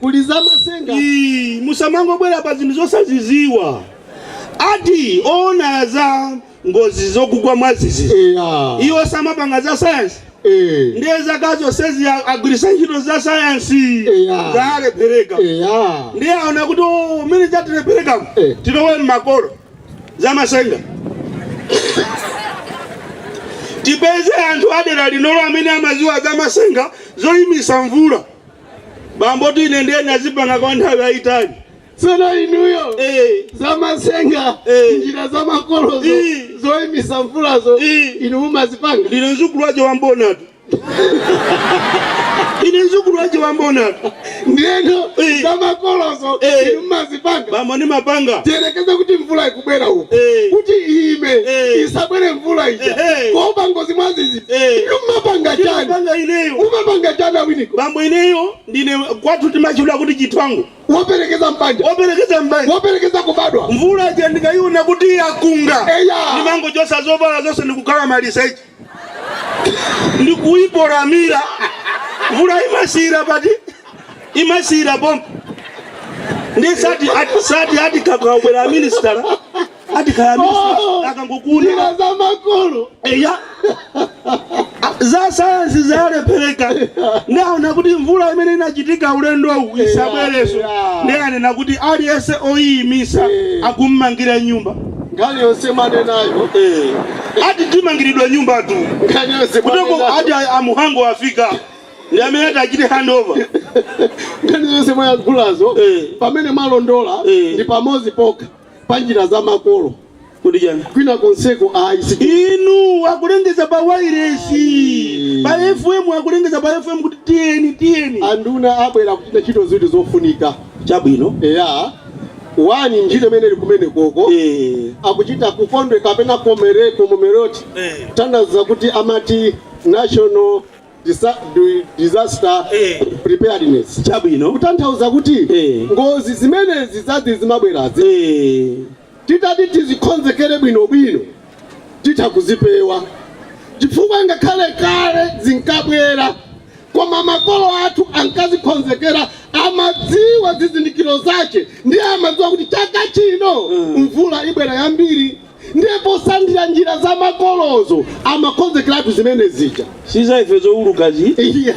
Kuli za matsenga ii musamangobwera pa zinthu zosazidziwa ati owona za ngozi zokugwa mwadzidzidzi eya iwo samapanga za sayansi eh ndiye zaka zonsezi agwiritsa ntchito za sayansi Eya. zalephereka eya ndiye aona kuti "Oh, mene zatilepherekeramu Eh. tilowe mmakolo za matsenga tipeze anthu adera linolo amene amadziwa za matsenga zoyimitsa mvula bambotu ine ndiye ndazipanga kwa nthawi yayitali tsono inuyo Eh. zamatsenga Eh. njira za makolozo Eh. zoyimitsa mvulazo Eh. inu mumazipanga ndine mdzukulu wake wa Mbonatu ine mzukulu waje wambonatu ndiyeno Eh. za makolozo Eh. inu mumazipanga bambo ndimapanga tiyerekeze kuti mvula ikubwera uku Eh. kuti iyime Eh. isabwere mvula ija Ehe. kuopa ngozi mwadzidzi ee Inu mumapanga chani? chimene ndimapanga ineyo Mumapanga chani a Winiko? bambo ineyo ndine kwathu timatchedwa kuti chithwango Woperekeza m'banja. operekeza m'banja Woperekeza kubadwa. mvula ija ndikaiona kuti yakunga Eya. ndimangochotsa zovala zonse ndikukhala maliseche ndikuipolamira mvula imasiyira pati? imasiyira pompo ndiye sati ati sati ati kakabwera aminisitala ati kaya minisita akangokuuza njira za makolo eya za sayansi zalephereka ndaona kuti mvula imene inachitika ulendowu isabwerenso yeah. ndiye anena kuti aliyense oyiyimitsa Eh. akummangira nyumba nkhani yonse mwanenayo ati timangiridwa nyumbatu nkhani yonse kuteko mwanenayo ati a Mhango afika ndi amene ati achite handover nkhani yonse mwayankhulazo Eh. pamene mwalondola Eh. ndi pamodzi pokha pa njira za makolo Kodi chani? kwina konseko ayi siiti Inu akulengeza pa wailesi pa FM akulengeza pa FM kuti tiyeni tiyeni. anduna abwera kuchita ntchito zinthu zofunika Chabwino. eya wa ntchito imene ili kumene koko Eh. akuchita chikondwerero kapena commemoration Eh. kutanthauza kuti amati national Disa- ndi- disaster Eh. preparedness chabwino kutanthauza kuti Eh. ngozi zimenezi zazizazi zimabwerazi Eh, titati tizikonzekere bwinobwino titha kuzipewa chifukwa ngakhale kale zinkabwera koma makolo athu ankazikonzekera amadziwa zizindikiro zake ndiye amadziwa kuti chaka chino mvula ibwera yambiri ndipo sandira njira za makolozo amakonzekeratu zimene zija siza ife zowulukazi Iya.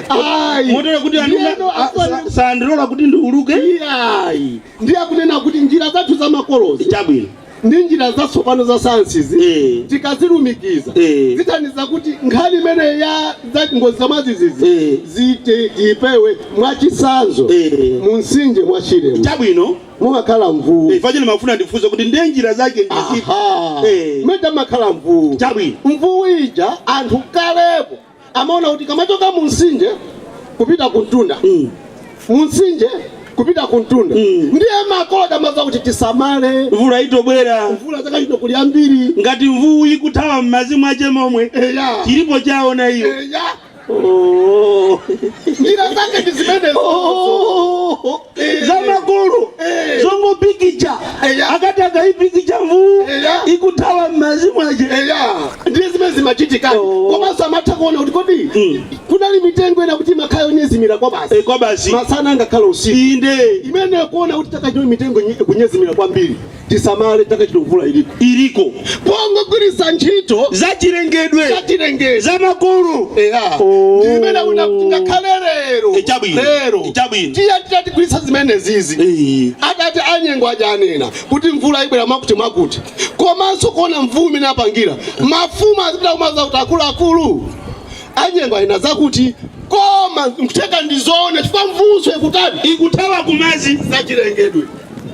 Ayi. motero kuti Ndiyeno anduna aswali- sandilola kuti ndiuluke Iyayi. ndiye akunena kuti njira zathu za makolozo chabwino ndi njira zatsopano za sayansizi Eh. tikazilumikiza Eh. zithandiza kuti nkhani imene ya za ngozi za mwadzidzidzi Eh. zithe ipewe mwachisanzo Eh. mu msinje mwa Shiremo chabwino mumakhala mvuu Eh, facheni mafuna ndifunse kuti ndiye njira zake ndi zipi Aha. Eh. mmene tamakhala mvuu chabwino mvuu ija anthu kalepo amaona kuti ikamachoka mu mtsinje kupita ku mtunda Mm. mu mtsinje kupita ku mtunda Mm. ndiye makolo amamva kuti tisamale mvula itobwera mvula chaka chino kuli yambiri ngati mvuu ikuthawa m'madzi mwache momwe eya chilipo chaona iyo eya Oh. njira zake ndi zimenezo Oh. za makolo Eh. zongopikicha Eya. akati akaipikicha mvuu Eya. ikuthawa m'mazi mwache eya ndiye zimene zimachitika Oh. komanso amatha kuona kuti kodi Mm. kunali mitengo ina kuti imakhala yonyezimira kwa basi Eh, kwa basi masana angakhale usiku inde imene kuona kuti chaka chino mitengo nye- kunyezimira kwambiri tisamale chaka chino mvula iliko iliko pongogwiritsa ntchito zachilengedwe zachilengedwe za makolo oh. zimene una ngakhale lero eh, chabwino lero eh, chabwino tiye titatigwiritsa zimenezizi eh. akati anyengo aja anena kuti mvula ibwera mwakuti mwakuti komanso kuona mvuu mmene apangira mafumu azipita kumauza kuti akuluakulu anyengo anena zakuti koma mkutheka ndizoona chifukwa mvuunso ikutani ikuthawa kumazi zachilengedwe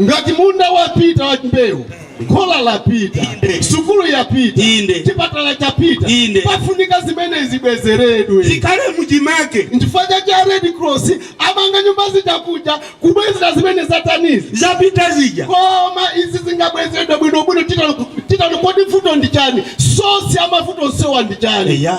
ngati munda wapita wa mbewu khola lapita Inde. sukulu yapita Inde. chipatala chapita Inde. pafunika zimene zibwezeredwe zikhale muchimake nchifukwa chake a red cross amanga nyumba zija kuja kubwezera zimene zatanizi zapita zija koma izi zingabwezeredwe bwinobwino titani kodi vuto ndi chani sosi ya mavuto onsewa ndi chani eya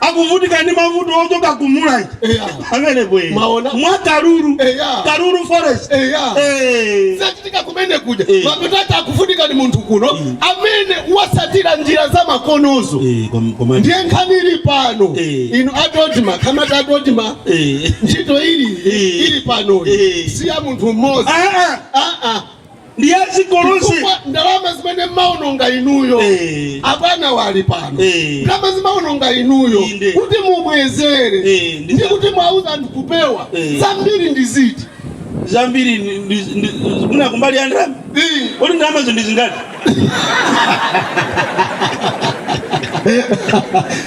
akuvutika ndi mavuto ochoka ku mulanje Eya. amene bwe Mwaona? mwa kalulu Eya. kalulu forest Eya. Eh. zachitika kumene kuja Eh. mapeto ake akuvutika ndi munthu kuno amene wasatira njira za makolozo Eh, kom- komani. ndiye nkhani ili pano Eh. inu a DoDMA kamati a DoDMA Eh. ntchito ili Eh. ili pano Eh. si ya munthu mmodzi Ah, ah. Ah, ah. ndi ya dziko lonse Chifukwa ndalama zimene mmaononga inuyo Eh. abwana ali pano Eh. ndalama zimaononga inuyo Inde. kuti mubwezere Eh, ndi ndi za- kuti mwauza anthu kupewa Eh. zambiri ndi ziti zambiri ndi- ndi- ndi- mwina kumbali ya ndalama Eh. kodi ndalamazo ndi zingati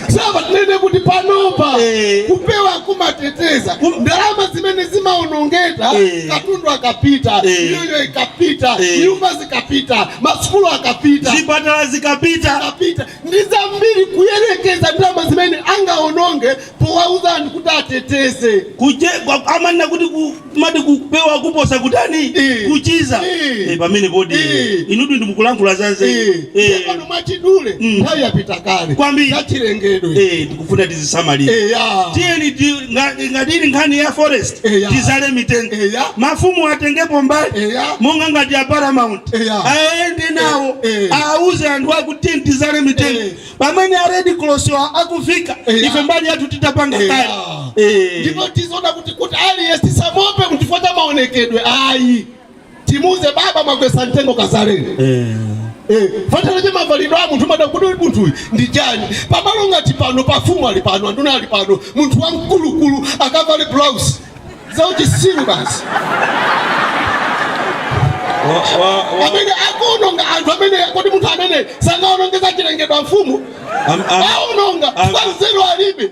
saba tinene kuti panopa Eh. kupewa kumateteza Kum- ndalama zimene zimaonongeka Eh. katundu akapita Eh. miyoyo ikapita Eh. nyumba zikapita masukulu akapita zipatala zikapita akapita ndi zambiri kuyerekeza ndalama zimene angaononge powauza anthu kuti ateteze uje kwa- amanena kuti ku- amati kupewa kuposa kutani Eh. kuchiza Eh. Eh, pamenepo ndi Eh. inutu ndimukulankhula zanzeru Eh. Tsopano mwachidule Mm. nthawi yapita kale Kwambiri. zachilengedwe Eh, kufuna tizisamalira eya tiyeni ndi- nga- ngati ili nkhani ya forest Eya. tidzale mitengo Eya. mafumu atengepo mbali Eya. monga ngati a paramount Eya. aende nawo Eh, eh. auze anthu akuti tidzale mitengo Eh. pamene a red cross-wa akufika Eya. ife mbali yathu titapanga Eya. kale Eh. ndipo tidzaona kuti kuti aliyense tisamuope kuti fota maonekedwe ayi timuze baba mwagwetsa mtengo kadzaleni eh. Eh, pali uje mavalidwe a munthu mada kuti munthuyu ndi chani pamalo ngati pano pafumu ali pano anduna ali pano munthu wamkulukulu akavale blouse zauchitsiru basi amene akuononga anthu amene kodi munthu amene sangaononge zachilengedwe mfumu aononga ngwa nzeru alibe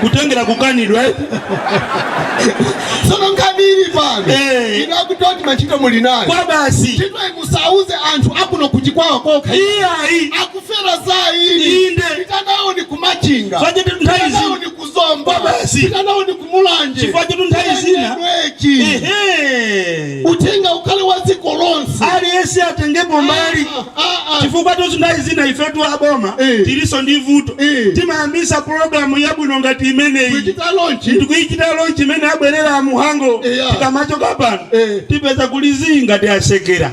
kutengera kukanidwa eh? sono nkhani ili pano Eh. inu a uje ntchito muli nayo kwabasi chifukwa musauze anthu akuno kuti kwawo kokha iyayi akufera za ili Inde. pitanawoni ku machinga Chifukwatu nthawi zina. pitanawoni ku zomba Kwabasi. pitanawoni ku mulanje Chifukwa chetu nthawi zina. Pitanawoni Lwechi. ehe uthenga ukhale wa dziko lonse aliyense atengepo mbali Ah, ah, ah. chifukwa chotu nthawi zina ifetu aboma Eh. tilinso ndi vuto Eh. timayambisa programu yabwino ngati imeneyi kuchita launch ndikuichita launch imene aperekera a muhango Yeah. tikamachoka pano Eh. tipeze kulizinga tikusekerera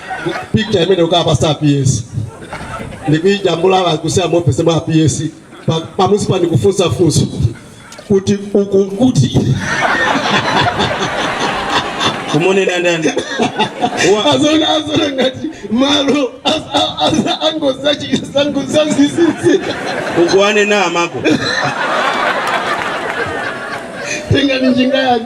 picture imene mukawapatsa a ps ndikuijambula kusamuopa maina a ps pa- pamunsipa ndikufunsa funso kuti uku kuti akumunena ndani Wa- azona azona ngati malo as- a- as- angozachi- angozazizisi ukuwane na amako tenga ni njinga yake